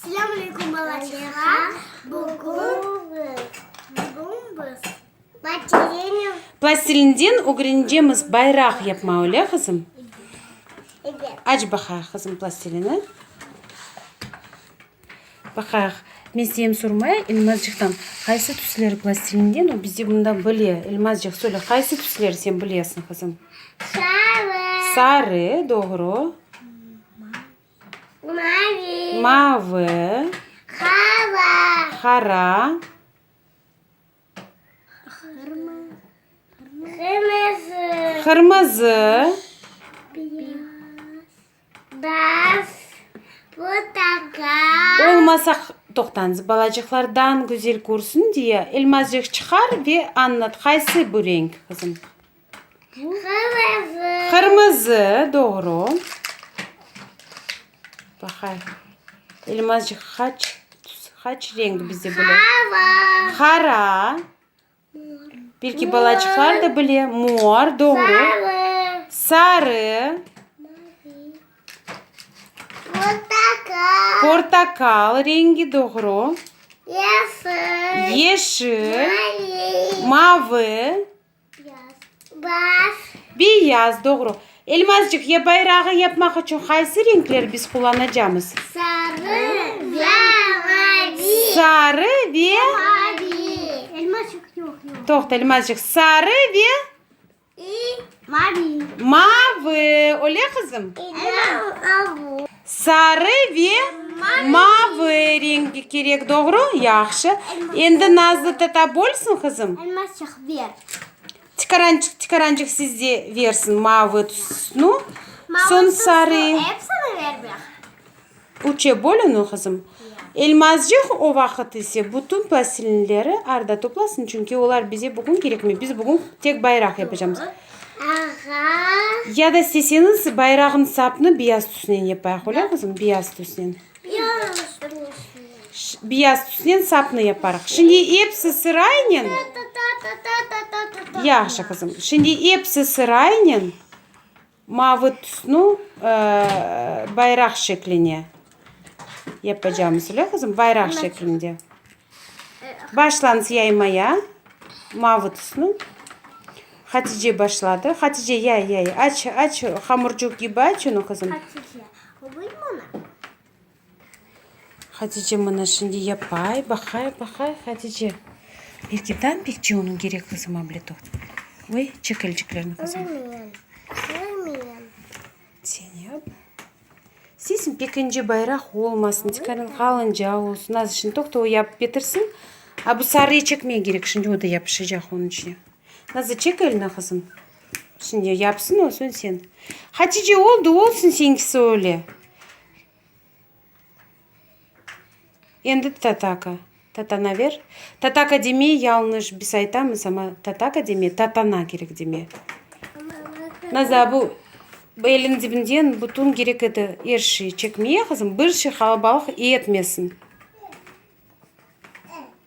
Selâm aleykum balaçıqlar. Bugün bugün biz platilenium Plastilinden ögreneceğimiz bayraq yapma, öyle qızım? Evet. Aç baqayıq qızım plastilini. Baqayıq. Men seyem sormaya Elmazcıqtan qaysı tüsleri plastilinden o bizde bunda bile. Elmazcıq söyle qaysı tüsleri sen bilesiñ qızım? Sarı. Sarı, doğru. Mavi. Mavı. Hava. Hara. Hırma. Hırmızı. Hırmızı. Beyaz. Portakal. Olmasa toqtañız balacıqlar dan güzel körsün diye elmazcıq çıqar ve añlat qaysı bu renk qızım. Qırmızı. Qırmızı, doğru. Baqayıq. Elmazcıq qaç qaç renk bizde bile? Hava. Qara. Belki balaçıqlar da bile. Mor, doğru. Sarı. Sarı. Portakal. Portakal rengi, doğru. Yeşil. Yeşil. Mavi. Mavi. Beyaz. Beyaz, doğru. Elmazcıq, ya bayrağı yapmaq içün qaysı renkler biz qullanacamız? Sarı ve mavi. Sarı ve... Mavi. Elmazcıq, yoq, yoq. Toqta, Elmazcıq. Sarı ve... İ, mavi. Mavi. Öyle qızım? İ, mavi. Sarı ve mavı renk kerek, doğru? Yahşı. Endi Nazlı tata bolsun, qızım. Elmasçıq, ber. Tikarançıq, tikarançıq sizde versin. Mavı tusnu, soñ sarı. Epsini ver beh. Üçe böl onı, qızım. Elmascıq o vaqıt ise bütün plastilinleri arda toplasın, çünki olar bize bugün kerekmey. Biz bugün tek bayraq yapacamız. Ağa. Ya da isteseñiz bayrağnıñ sapını biyaz tüsnen yapayıq, öyle qızım? Biyaz tüsnen. Biyaz tüsnen. Biyaz tüsnen sapnı yaparıq. Şimdi episi sıraynen. Yahşı qızım. Şimdi episi sıraynen mavı tüsnü bayraq şekline Yapacağımız öyle qızım, bayraq şeklinde. Başlañız yaymaya. Mavı tüsnü. Hatice başladı. Hatice yay yay. Aç aç hamurcuq gibi aç onu qızım. Hatice, obuy mına. Hatice mına şimdi yapay. Baqay baqay Hatice. Belki tam pekçi onun gerek qızım abletoq. Oy, çekelciklerini qızım. Sen yap. Sesn pekinci bayraq olmasın, tikarin qalınca olsun, az işin toqta o yapıp petirsin. A bu sarıyı çekmeye gerek, şimdi o da yapışacaq onıñ içine. Nazı çek elini qızım. Şimdi yapsın o soñ sen. Hatice oldı olsun seninkisi öyle. Endi tataka, tatanaver. Tataka demey, yalnış biz aytamız, amma tataka demey, tatana kerek demey. Naza, bu eliñ dibinden bütün kerek edi, er şey çekmeye, qızım, bir şey qalabalıq etmesin.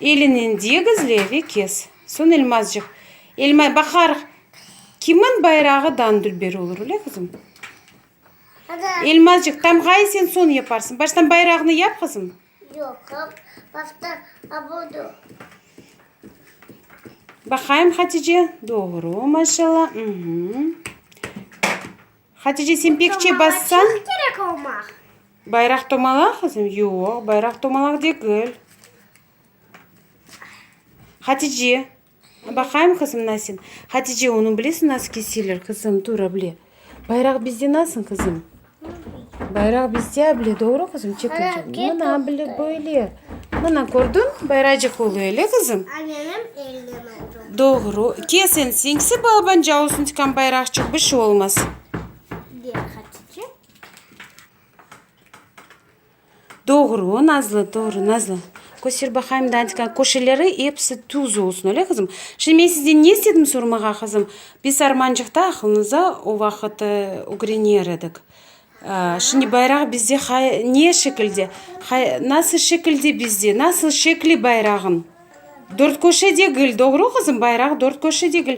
Elinen degizle ve kes. Soñ elmazcıq. Elmay baqar. Kimin bayrağı dan dülber olur, öyle qızım? Elmazcıq, tamğayı sen soñ yaparsıñ. Baştan bayrağını yap, qızım. Yoq, baştan abudu. Baqayım, Hatice. Doğru, maşallah. Hatice, sen pek çabassan. Tomalağa çoq kerek olmaq. Bayraq tomalağa, qızım? Yoq, bayraq tomalağa degil. Hatice, baqayım, qızım, nasıl? Hatice, onı bilesiñ, nasıl keseler, qızım? Tur, able. Bayraq bizde nasıl, qızım? Bayraq bizde, able, doğru, qızım? Çek, çek, çek. Mına, able, böyle. Mana kördiñ, bayracıq olu ele qızım. Anenem elden oldı. Doğru. Kes ensiñ, sip alabanca olsun tikam bayraqçıq, bir şey olmaz. Bir hatice. Doğru, Nazlı, doğru, Nazlı. Köster baqayım Dantika, köşeleri hepsi tuz olsun, öyle qızım. Şimdi men sizden ne istedim sormağa qızım? Biz armancıqta aqlınıza o vaqıt ögrener edik. Şimdi bayraq bizde qay, ne şekilde? Qay, nasıl şekilde bizde? Nasıl şekli bayrağın? Dört köşe degil, doğru qızım? Bayraq dört köşe degil.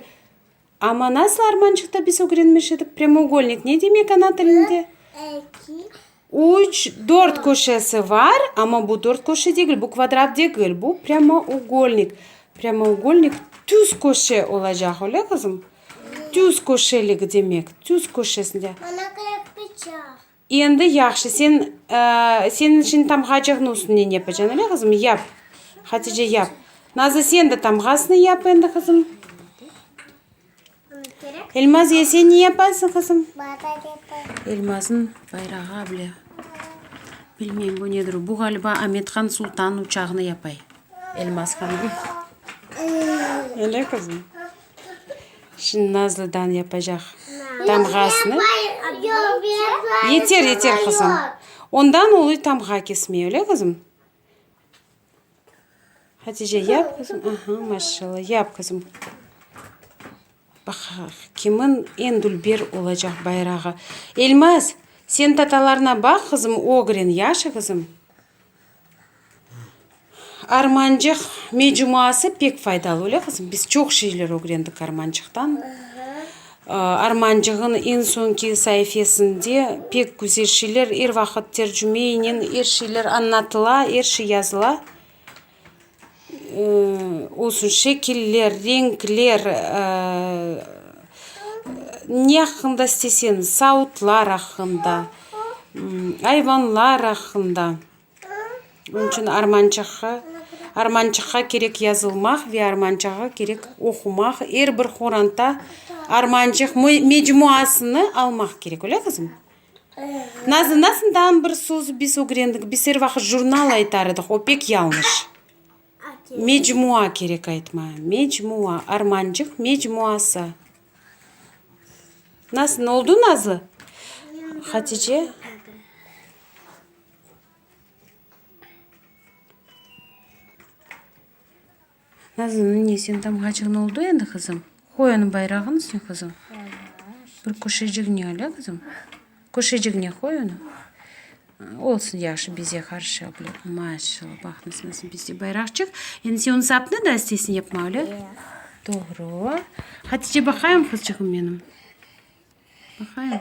Amma nasıl armançıqta biz ögrenmiş edik? Premougelnik ne demek ana tilinde? Üç, dört köşesi var, amma bu dört köşe degil, bu kvadrat degil, bu premougelnik. Premougelnik tüz köşe olacaq, öyle qızım? Tüz köşeligi demek, tüz köşesinde. Ana qırpıçaq. Endi yahşı, sen, senin içün tamğacığnıñ üstüne ne yapacaksın, öyle qızım? Yap. Hatice, yap. Nazlı, sen de tamğasını yap endi, qızım. Elmaziye, sen ne yapasıñ, qızım? Bayraq yapayım. Elmazın bayrağı bile. Bilmeyim, bu nedir o? Bu ğaliba Amethan Sultan uçağını yapay. Elmazhanıñ. Öyle qızım? Şimdi Nazlıdan yapacaq tamğasını. Yeter, yeter qızım. Ondan ulu tamğa kesmey, öyle qızım? Hatice yap qızım. Aha, maşallah. Yap qızım. Bak, kimin en dülber olacaq bayrağı. Elmaz, sen tatalarına baq qızım, Ogrin, yaşı qızım? Armancıq mecuması pek faydalı, öyle qızım? Biz çoq şeyler ögrendik armancıqtan. Armancığın eñ soñki saifesinde pek güzel şeyler, er vaqıt tercümeynen er şeyler añlatıla, er şey yazıla. olsun, şekiller, renkler, ne aqqında isteseñiz, savutlar aqqında, ayvanlar aqqında. Bunıñ içün armançıqqa, armançıqqa kerek yazılmaq ve armançıqqa kerek oqumaq, er bir qoranta armançıq mecmuasını almaq kerek, öyle qızım? Nazlı, nasından bir söz biz ögrendik, biz er vaqıt jurnal aytar edik, o pek yalnış. Mecmua kerek aytmaya, mecmua, armancıq mecmuası. Nasıl, ne oldu Nazlı? Hatice. Nazlıniñ ne sen tamğacığın oldu endi qızım? Qoy onıñ bayrağını sen qızım. Bir köşeciğine al a qızım. Köşeciğine qoy onı. Olsun yahşı bize qarşı abla. Maşallah bax nasıl bize bayraqçıq. Endi sen onı sapnı da isteysiñ yapmaq öyle? Doğru. Hatice baqayım qızcığım menim. Baqayım.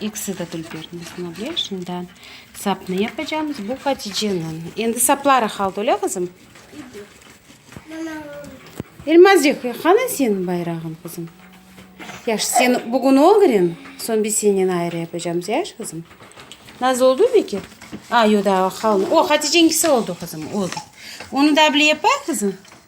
İkisi de dülberniy qınable. Şimdi sapnı yapacağımız. Bu Haticeniñ. Endi sapları halda, öyle qızım? Elmazcıq, qanı seniñ bayrağıñ, qızım? Yaş, sen bugün ögren, soñ biz senen ayrı yapacağımız, yaş, qızım? Nazlı oldu beki? A, yoq, da qaldı. O, Haticeniñkisi oldu, qızım, oldu. Onı da bile yapay, qızım?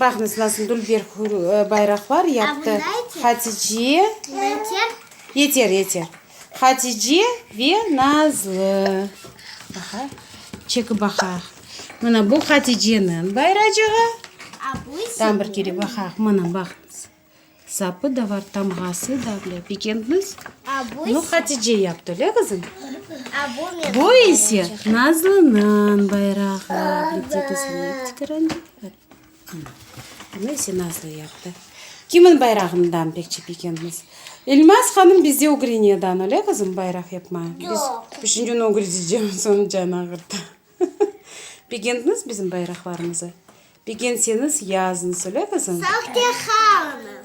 Baqıñız, nasıl dülber bayraqlar yaptı Hatice, yeter, yeter, Hatice ve Nazlı. Baqa, çekip baqaq. Mına bu Haticeniñ bayracığı. Tam bir kere baqaq, mına, baqıñız. Sapı da var, tamğası da, bile, bekentmiz? Bunu Hatice yaptı, öyle, qızım? Bu ise Nazlınıñ bayrağı. Bitti, qızım, tikerendi. Bunu ise Nazlı yaptı. Kimniñ bayrağından pekçi bekentmiz? İlmaz hanım bizde Ugrinya'dan, öyle, qızım, bayraq yapmaya? Biz üçünci gün Ugrice cemizimiz canı ağırdı. Bekentmiz bizim bayraqlarımızı? Begenseñiz yazıñ, söyle qızım. Sahte Hanım.